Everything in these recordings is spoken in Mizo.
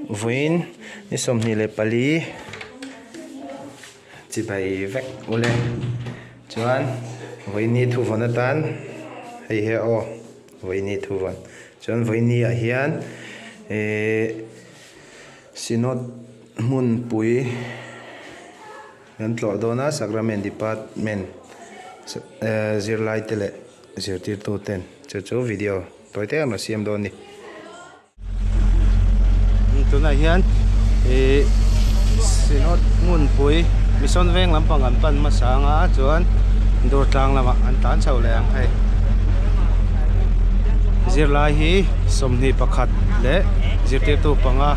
Vawiin ni sawmhnih leh pali chi bai vek ule chuan vawiini thu vawn atan hei hi a aw vawiini thu vawn chuan vawiini ah hian ihh synod hmunpui-- Kan tlawh dawn a, Sacrament Department zirlaite leh zirtirtu ten chu chu video tawi te an rawn siam dawn ni. Tunah hian ih Synod hmunpui Mission veng lampang an pan hmasa anga chuan Durtlang lamah an tan chho leh ang hei. Zirlai hi sawmhnih pakhat leh zirtirtu panga.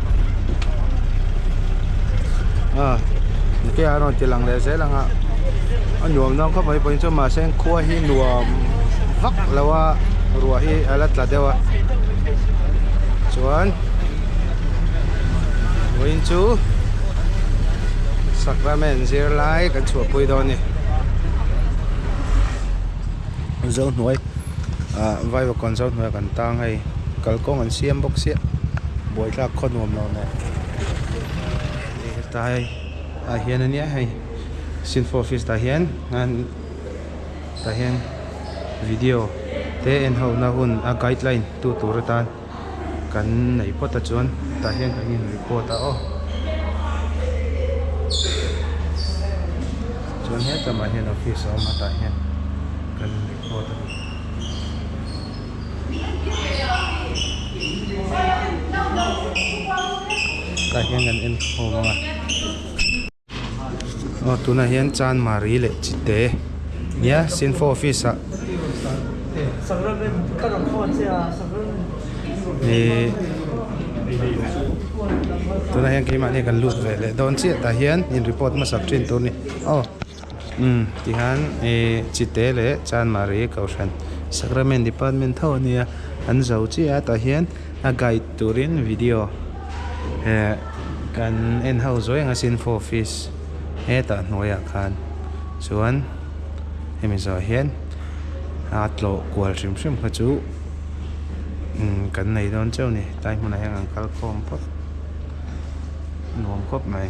nihfiah an rawn ti lang leh zel ang a a nuam dawn khawp mai pawhin chuan mahse khua hi nuam vak lo a ruah hi a la tla deuh a chuan vawiin chu sacrament zirlai kan chhuahpui dawn a ni mizo hnuai-- Ahh vaiva kawnzo hnuaiah kan tang hei kalkawng an siam bawk sia buaithlak khaw nuam lo nen ih heta hei ah hian ania hei sinfo office tah hian an tah hian video te en hona hun a guideline tu tur atan-- kan nei phawt a chuan tah hian kan in report a aw chuan hetlama hian office a awm a tah hian kan in report a tah hian kan en khawm ang a. aw tunah hian chanmari leh chi te nia cenfo office ah ihh tunah hian keimah kan lut ve leh dawn chiah tah hian in report hmasa thin tur ni aw umm tihian ihh chi te leh chanmari kohhran sacrament department tho ania an zo chiah a tah hian. A guide turin video eh kan en ho zuai anga Sinfo office hetah hnuaiah khan chuan hemi zawh hian a tlawh kual hrim hrim kha chu kan nei dawn chauh ni tai hmunah hian kan kal khawm khawp nuam khawp mai.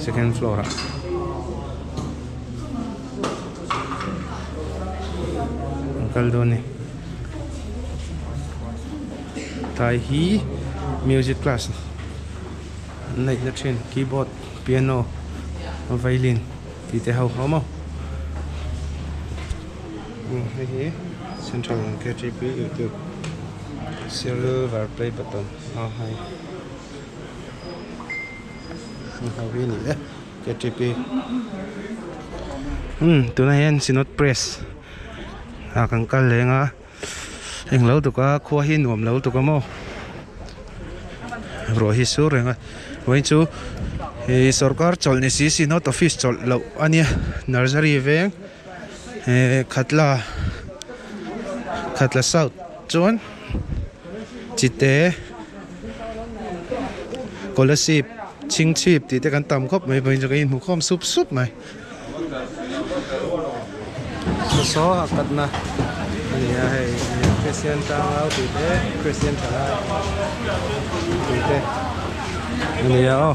Second floor ah kan kal dawn ni. Tlai hi music class an neih na thin. Keyboard, piano, violin tih te ho ho maw. Umm hei hi Central KTP YouTube silver play button a hai. tuna hian synod press ah kan kal leng a heng lo duka khua hi nuam lo duka maw ruah hi sur reng a wai chu sorkar chawlh ni si synod office chawlh loh a nia nursery veng-- He Khatla, Khatla South chuan Chite, Kolasib, Chhingchhip tih te kan tam khawp mai pawhin chu kan inhmu khawm sup sup mai. Saw a katna a ni a hei Christian Tangau tih te Christian thalai tih te a ni a aw.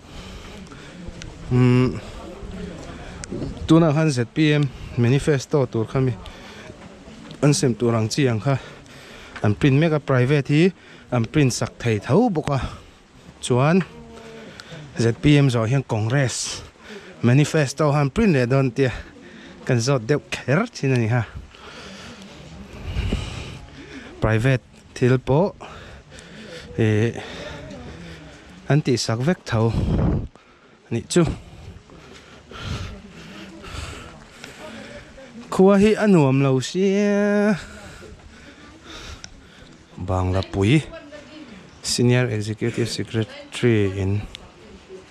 um tunah khan zpm manifesto tur kha mi an sem tur ang chi ang kha an print mek a private hi an print sak thei tho bawk a chuan zpm zawh hian congress manifesto han print leh dawn tia kan zawt deuh kher thin a ni ha private . Thil pawh ih an tih sak vek tho nih chu. Khua hi a nuam lo sia. Banglapui Senior Executive Secretary in.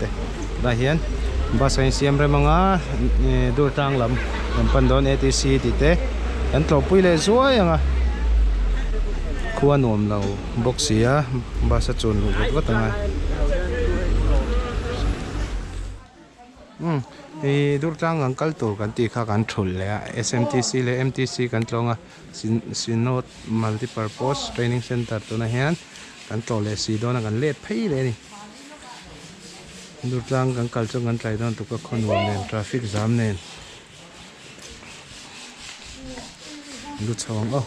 te tunah hian bus a insiam rem anga eee durtlang lam kan pan dawn atc tih te kan tlawhpui leh zuai ang a khua nuam lo bawk sia bus a chun luh vat vat ang a umm eee durtlang kan kal tur kan tih kha kan thul leh a smtc leh mtc kan tlawng a sin sinod multipurpose training centre tunah hian kan tlawh leh si dawn a kan let phei leh a ni. Dur tlang kan kal chuan kan tlai dawn tuk a khaw nuam nen traffic jam nen lu chho ang aw.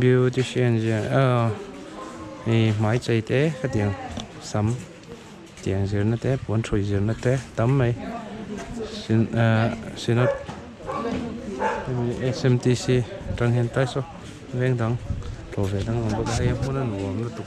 Beautician zia ahh ih hmai chei te khatiang sam tiang zirna te puan thui zirna te tam mai sin ahh sinawt smtc aṭang hian taisaw veng dang tlawhve dang a awm bawk a hei a hmuna nuam lutuk.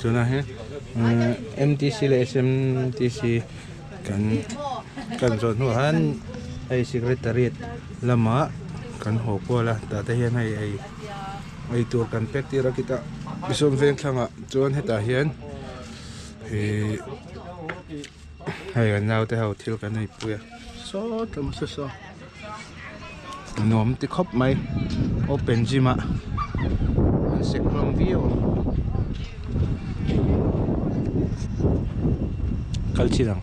tuna hi mtc leh smtc kan kan zawh hnu ah hian hei secretariat lamah kan haw kual a tah te hian hei ei ei tur kan pek tir a kita Hrisom Vengthlangah chuan hetah hian ihh-- Hei kan naute ho thil kan ei pui a sawt tlem a se saw nuam te khawp mai open gym ah an sek nghawm viau ang kal chin ang.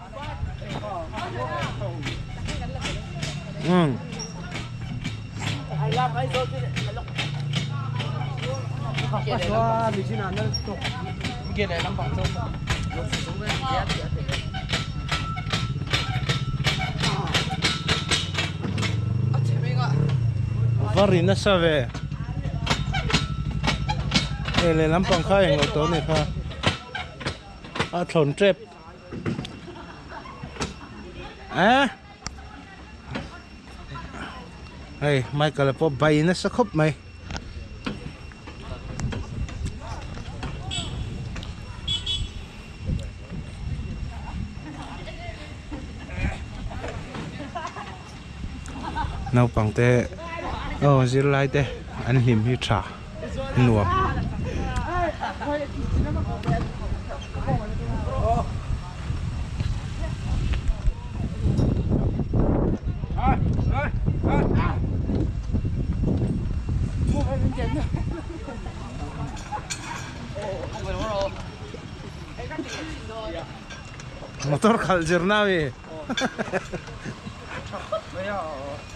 Va ri nasa ve e lehlam pang kha englo tawh a ni kha a thlawn tep. Eh? Hei, Michael pawh bai nasa khawp mai. Naupangte, aw zirlaite an hlim hi tha. nuam. Motor khalh zir nau i.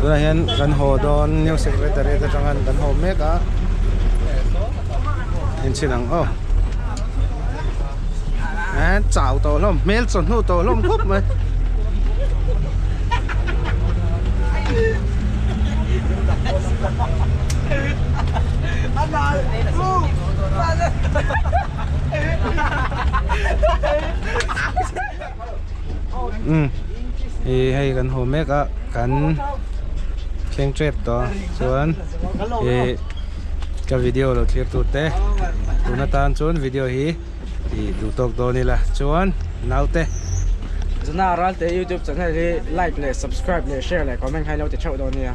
tunah hian kan haw dawn new secretary te atanga kan haw mek a in chin ang aw eh chau tawh hlawm hmel chaw hnu tawh hlawm khawp mai Hello. hei kan haw mek a kan thleng tep tawh a chuan ih ka video lo thlir tu te tuna tan chuan video hi ih duh tawk dawn ila chuan naute Jana Aralte youtube channel hi like leh subscribe leh share leh comment hai lo ti theuh dawn nia.